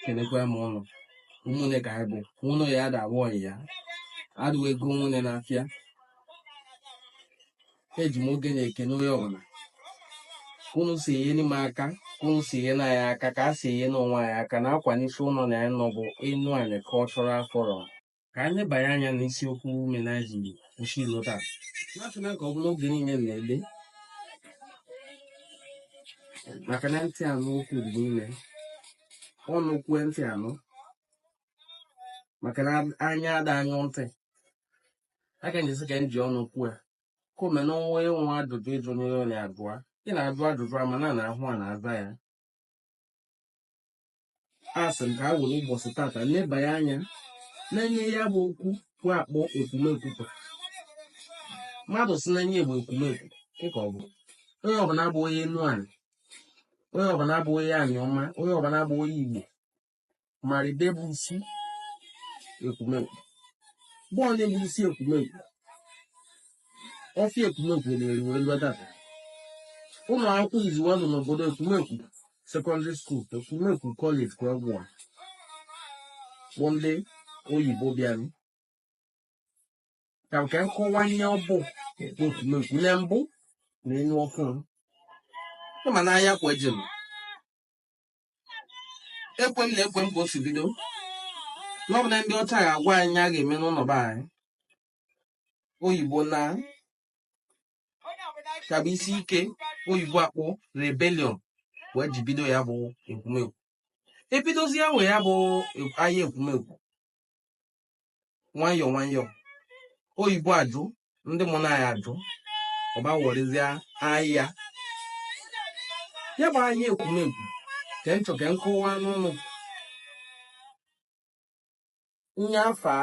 kenekwa m ụnụ ụmụnne ka anyị bụ ụnụ ya ada awụ ọyị ya adịwa ego nwunye n'afịa eji m oge na-ekene onye ọbụla ka unu si enyeni m aka ka unu si enyeni anyị aka ka a si enye n'onwe anyị aka nakwa n'isi ụnọ na anyị nọ bụ enuani cultural forum ka anyị lebanye anya n'isiokwu menaji isi ilo taa na-achọ na ka ọ bụla oge niile na-ele maka na ntị anụ okwu dị niile ọnụ kwue ntị anụ maka na anya ada anyụ ntị aka njesi ka m ji ọnụ kwue ka ome na onwe nwa ajụjụ ịjụ n'onye onye abụọ ị na-ajụ ajụjụ ama na na ahụ a na-aza ya a sị m ka a were ụbọsị tata lebanye anya n'enye ya bụ okwu bụ akpọ ekwumekwu bụ mmadụ si n'enye bụ ekwumekwu dịka ọ bụ onye ọbụla bụ onye enuani onye ọbụla bụ onye aniọma onye ọbụla bụ onye igbo mara ibe bụ isi ekwumekwu bọọ na-ebu isi ekwumekwu ọfịa ekwumekwu na-eri wee lụọ data ụnọ akwụkwọ iziwa nọ n'obodo ekwumekwu secondary school ekwumekwu college ka ọgwụ a bụ ndị oyibo bịara ka nke nkọwa ihe ọ bụ ekwumekwu na mbụ na enye ọhụrụ ịma na aya kwa jem ekwe m na ekwe m ka o si bido na ọ bụ na ndị ọcha ga-agwa anyị ihe a ga-eme n'ụnọ be anyị oyibo na ka bụ isi ike oyibo akpọ rebellion wee ji bido ya bụ ekwumekwu ebidozi ya wee ya bụ aya ekwumekwu nwayọọ nwayọọ oyibo ajụ ndị mụrụ anyị ajụ ọba werezie aya ya bụ aya ekwumekwu ka m chọ ka m kọwara ụnụ nye afọ a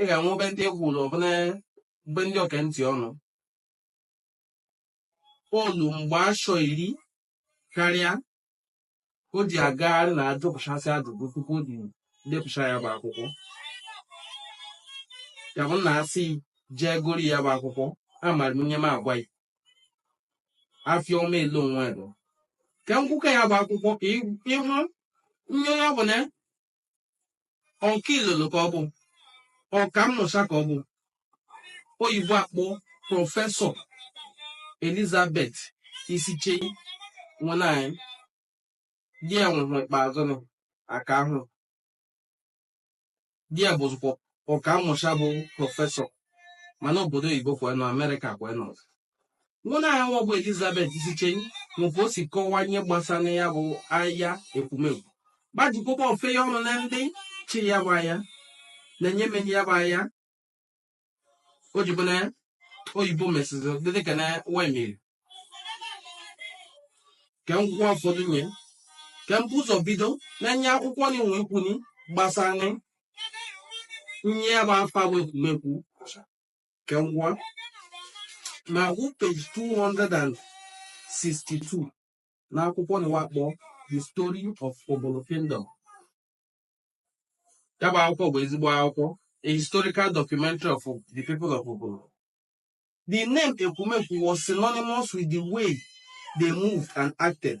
ị ga-enwe obe ndị egwu ụlọ ọbụla mgbe ndị oke ntị ọnụ pọlụ mgbe ashọ iri karịa o ji agagharị na-ajụpụchasị ajụjụ tupu o ji depụcha ya bụ akwụkwọ ya bụ na a sị jee gori ya bụ akwụkwọ amara m ihe m agwa ya afịa ọma ele onwe ebe ka nkwụka ya bụ akwụkwọ ka ịhụ ihe onye ọbụla ọka ilolo ka ọ bụ ọka mmụcha ka ọ bụ oyibo akpọ professor elizabeth isichei nwaanyị di ya nwụrụ ikpeazụ na aka ahụ di ya bụzikwa ọka mmụcha bụ professor mana obodo oyibo ka we nọ amerịka ka we nọ nwanyị nwa bụ Elizabeth Isichei nwụbụ o si kọwa ihe gbasara ya bụ aya Ekwumekwu gbajikwụkwọ ofe ya ọnụ na ndị chi ya bụ aya na nye meni ya bụ aya o ji bụ na oyibo mesịzị dị dịka na wa meri ka m gụọ ụfọdụ nye ka m bu ụzọ bido na nye akwụkwọ nị nwe ikwuni gbasara nye ya bụ afa bụ Ekwumekwu ka m gwa ma agụ page 262 n'akwụkwọ nị wa kpọ The Story of Ubulu Kingdom ya bụ akwụkwọ bụ ezigbo akwụkwọ a historical documentary of the people of Ubulu the name Ekwumekwu was synonymous with the way they moved and acted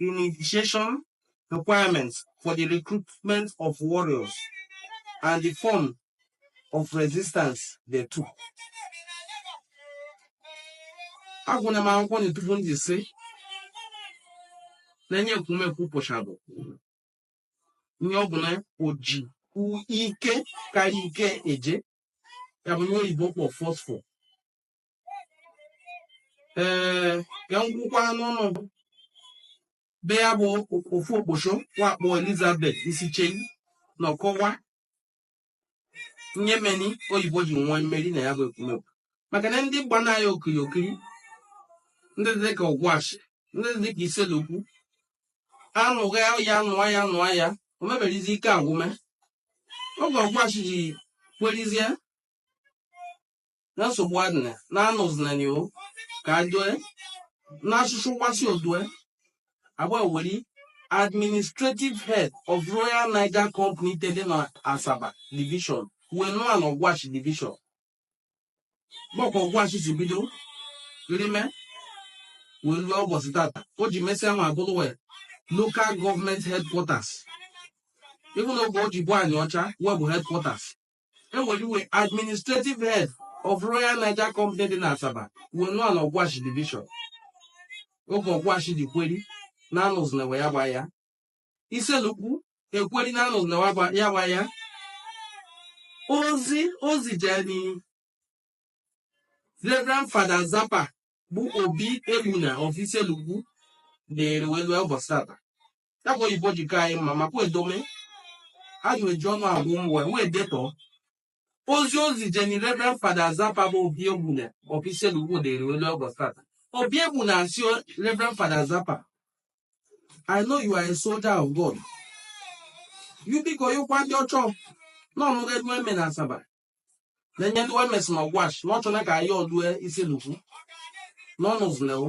initiation requirements for the recruitment of warriors and the form of resistance they took. agụna m akwụkwọ na tupu ndị sị na nye Ekwumekwu pụcha bụ ihe ọ bụla oji ike karịa ike eje ya bụ ihe oyibo kpọ forceful ee ka m gụkwanị ụnụ ebe ya bụ ofu okposho wa kpọ Elizabeth Isichei nọ kọwa nye meni oyibo ji nwe mmeri na ya bụ Ekwumekwu maka na ndị gbanị anyị okiri okiri ndị dị ka Ọgwashi ndị dị ka Issele-Uku anụa aya nụa aya nụa aya o meberizi ike agwụme oge Ọgwashi ji kwerizie na nsogbu adịna na anụzinani o ka doe na asụsụ wa sị o doe agba weri administrative head of Royal Niger Company te dị na Asaba division wee nụa na Ọgwashi division bụ ka Ọgwashi si bido rime wee lue ụbọsị tata o ji mesịa ma bụrụ wee local government headquarters even oge o ji bụ Aniocha wa bụ headquarters e weri administrative head of Royal Niger Company dị n'Asaba wee nụa na Ọgwashi division oge Ọgwashi ji kweri na anụzina aya gba ya Issele-Uku ekweri na anụzina aya gba ya ozi ozi jeni Reverend Father Zappa bụ Obi Egbuna of Issele-Uku na-ere wee lue ụbọsị tata ya bụ oyibo ji ka anyị mma makwa edome ha ji eji ọnụ agwụ m wee wee detọọ ozi ozi jeni reverend father zappa bụ obi egbuna of issele-uku dịrị lue ụbọchị tata obi egbuna asị reverend father zappa i know you are a soldier of god you biko ị gwa ndị ọcha n'ọnụga ndị eme na asaba na ihe ndị we mesị na ọgwashi na ọ chọna ka aya lue issele-uku n'ọnụ zlewo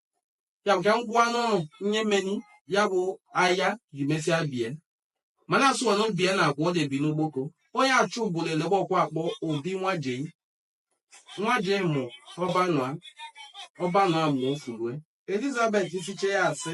ya bụ ka m gwa ọnụ ihe meni ya bụ aya ji mesịa bie mana asụwanụ bie na agwa ọ na-ebi n'ugboko onye achọ ubulu elebe ọkwụ akpọ obi nwajei nwajei mụ ọbanụa ọbanụa mụ ofulue elizabeth isichei ya asị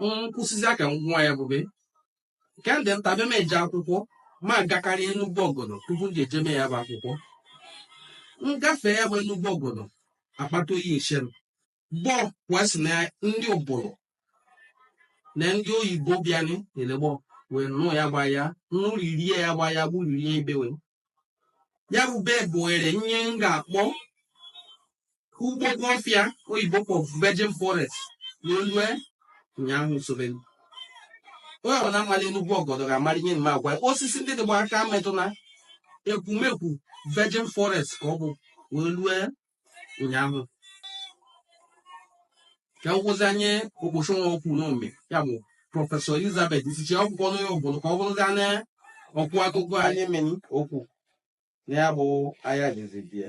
m kwusịzịa ka m gwa ya bụ ebe nke m dị nta bịa m eje akwụkwọ ma gakarị enugwu ọgọdọ tupu m ji eje mee ya bụ akwụkwọ m gafee ya bụ enugwu ọgọdọ akpata oyi eche m gbọ wee sị na ndị ubulu na ndị oyibo bịanị na-elegbọ wee nụ aya gba aya nụririe aya gba aya gburirie ibe we ya bụ ebe bụrị ihe m ga-akpọ ugboko ọfịa oyibo kpọ virgin forest wee lue ụnyaahụ sobe onye ọbụla malị enugwu ọgọdọ ga-amara ihe m na-agwa osisi ndị dịgba aka metụ na ekwumekwu virgin forest ka ọ bụ wee lue ụnyaahụ ka m kwuzi ihe okposho nwa okwu n'ome ya bụ prọfesọ elizabeth isichei akwụkwọ n'onye obodo ka ọ bụrụzi na ọ kọ akụkọ ihe meni okwu na ya bụ aya jizi bie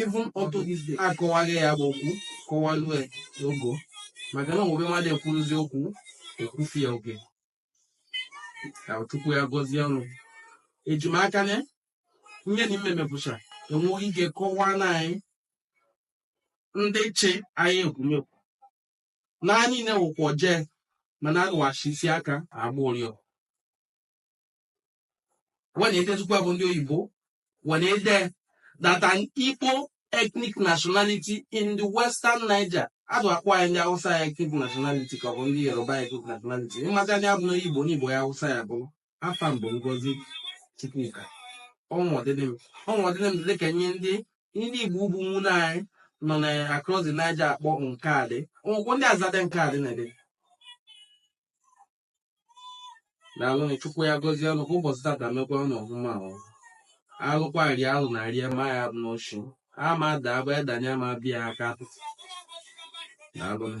even unto this day akọwaghị ya bụ okwu kọwalue ogo maka na o nwe ebe mmadụ ekwuruzi okwu ekwufịa oge ka chukwu ya gọzie ọnụ ejimaka na nye na ime mepụcha enweghị ike kọwaa na anyị ndị chi anyị ekwumekwu na anyị na-ewụkwa jee mana agụwachi isi aka agba ụrịọ we na-edezikwa bụ ndị oyibo we na-ede that an Igbo ethnic nationality in the western Niger a dị akpọ anyị ndị Hausa ya ethnic nationality ka ọ bụ ndị Yoruba ya ethnic nationality ịmata ndị abụ n'onye Igbo n'Igbo ya Hausa ya bụ afa m bụ Ngozi Chukwuka ọnwụọdịnị m dị ka nye ndị ndị Igbo ụmụnne anyị nọ na across the Niger akpọ nke adị ọgwụkwọ ndị azadị nke adị na-ede daalụ na chukwu ya gọzie ụnụ kwa ụbọchị tata mekwa ụnụ ọfụma ahụ alụkwa rie alụ na rie ma ya abụna oshi ama ada abụ edanye ma bịa aka atụtụ daalụ na